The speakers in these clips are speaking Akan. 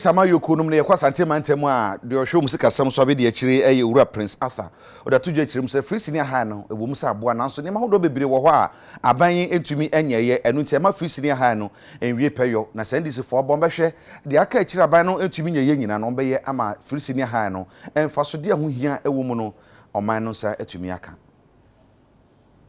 Sama Yoko nom no yɛkɔ Asante mantam mu a, deɛ ɔhwɛ wɔn sikasɛm so abedi akyire yɛ Owura Prince Arthur. Ɔde ato dwa kyerɛ mu sɛ, Free Senior High no, ɛwɔ mu sɛ aboa, nanso nneɛma ahodoɔ bebree wɔ hɔ a aban yi ntumi nyɛeɛ, ɛno nti ɛmma Free Senior High no nwie pɛyɔ. Na sɛ NDCfoɔ bɔ bɛhwɛ deɛ aka akyire a aban no ntumi nyɛeɛ nyinaa no, wɔbɛyɛ ama Free Senior High no mfasodeɛ a ɛho hia wɔ mu no ɔman no nsa atumi aka.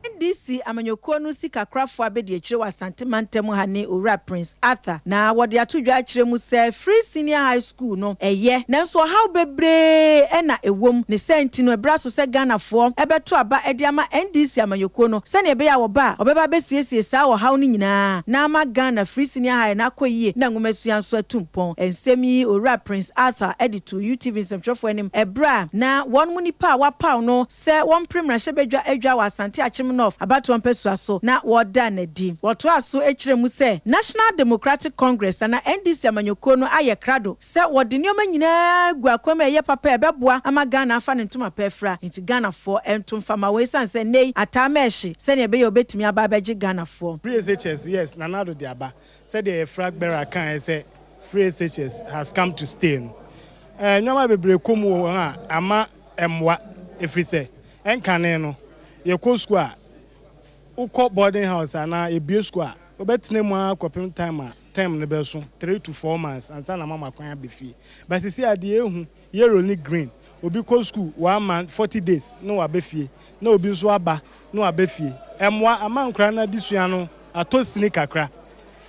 NDC amanyɔkuo no sikakorafoɔ abɛdiakyire wɔ Asante mantam ha ne Owura Prince Arthur na wɔde ato dwa akyerɛ mu sɛ Free Senior High School no yɛ nanso ɔhaw bebree na ɛwom ne saa nti no ɛberɛ aso sɛ Ghanafoɔ bɛto aba de ama NDC amanyɔkuo no sɛdeɛ ɛbɛyɛ a wɔba a wɔbɛba abɛsiesie saa ɔhaw no nyinaa na ama Ghana Free Senior High no akɔ yie na nwomasua nso atu mpɔn. Nsɛm yi Owura Prince Arthur de too UTV nsɛmtwerɛfoɔ anim ɛberɛ a na wɔnom nnipa a wɔapaw no sɛ wɔmpere mmarahyɛbadwa adwa wɔ Asante Akyem North abatoɔ mpasua so na wɔda no adi. Wɔtoaa so kyerɛɛ mu sɛ National Democratic Congress anaa NDC amanyɔkuo no ayɛ krado sɛ wɔde nneɛma nyinaa agu akwan mu a ɛyɛ papa a ɛbɛboa ama Ghana afa ne ntoma pa afira nti Ghanafoɔ nto mfa mma wɔn ɛsiane sɛ nnɛ yi ataa mɛɛhye sɛdeɛ ɛbɛyɛ a wɔbɛtumi aba abɛgye Ghanafoɔ. Bridge HHS, Yes, Nana Addo de aba. Sɛdeɛ Efra Gbera kaaɛ sɛ Free Seychelles has come to stay no, nnoɔma bebree kɔ mu wɔ hɔ a ama ɛmmoa ɛfiri sɛ ɛnkane no yɛkɔ sukuu a, wokɔ boarding house anaa yɛbue sukuu a, wobɛtena mu ara kɔpem time a term no bɛso, three to four months, ansa na moama kwan aba fie. But seesei adeɛ ahu. Yero ne Green, obi kɔ sukuu one month, forty days na waba fie, na obi nso aba na waba fie. Ɛmmoa ama nkwadaa no adesua no atɔ sini kakra.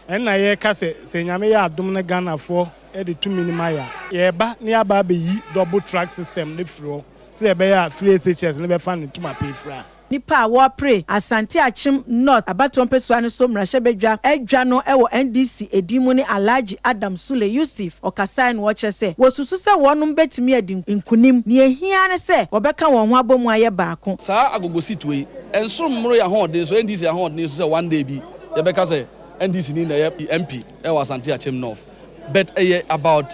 Ɛno na yɛreka sɛ, sɛ Nyame yɛ adom na Ghanafoɔ de tumi no ma yɛn a, yɛreba na yɛaba abɛyi double track system no afiri hɔ sɛdeɛ ɛbɛyɛ a free SHS no bɛfa ne ntoma pefra. Nnipa a wɔrepre Asante Akyem North abatoɔ mpɛsua no so mmarahyɛbadwa adwa no wɔ NDC edin mu ne Alhaji Adam Sule Yusuf ɔkasae no ɔkyerɛ sɛ wɔsusu sɛ wɔnom bɛtumi adi nkunim, nea ɛhia ara ne sɛ wɔbɛka wɔn ho abɔ mu ayɛ baako. Saa agogosituo yi nso mmoro yɛn ahoɔden so, NDC ahoɔden so sɛ one day bi yɛbɛka sɛ NDC ni na ɛyɛ MP wɔ Asante Akyem North but ɛyɛ about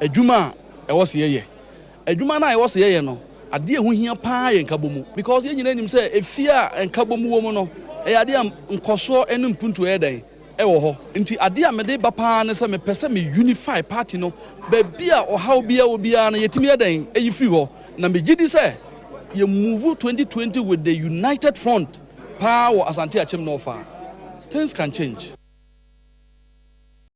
adwuma a ɛwɔ se yɛyɛ Adwuma no a yɛwɔ sɛ yɛyɛ no, adeɛ a ɛho hia pa ara yɛ nkabɔmu. Because yɛn nyinaa nim sɛ efie a nkabɔmu wɔ mu no, ɛyɛ adeɛ a nkɔsoɔ ne mpuntuo yɛ dɛn? Ɛwɔ hɔ. Nti adeɛ a mede ba pa ara ne sɛ mepɛ sɛ me unify party no, baabi a ɔhaw biara wɔ biara no yɛtumi yɛ dɛn? Yi firi hɔ. Na megye di sɛ yɛ move 2020 with the united front pa ara wɔ Asante Akyem North a, things can change.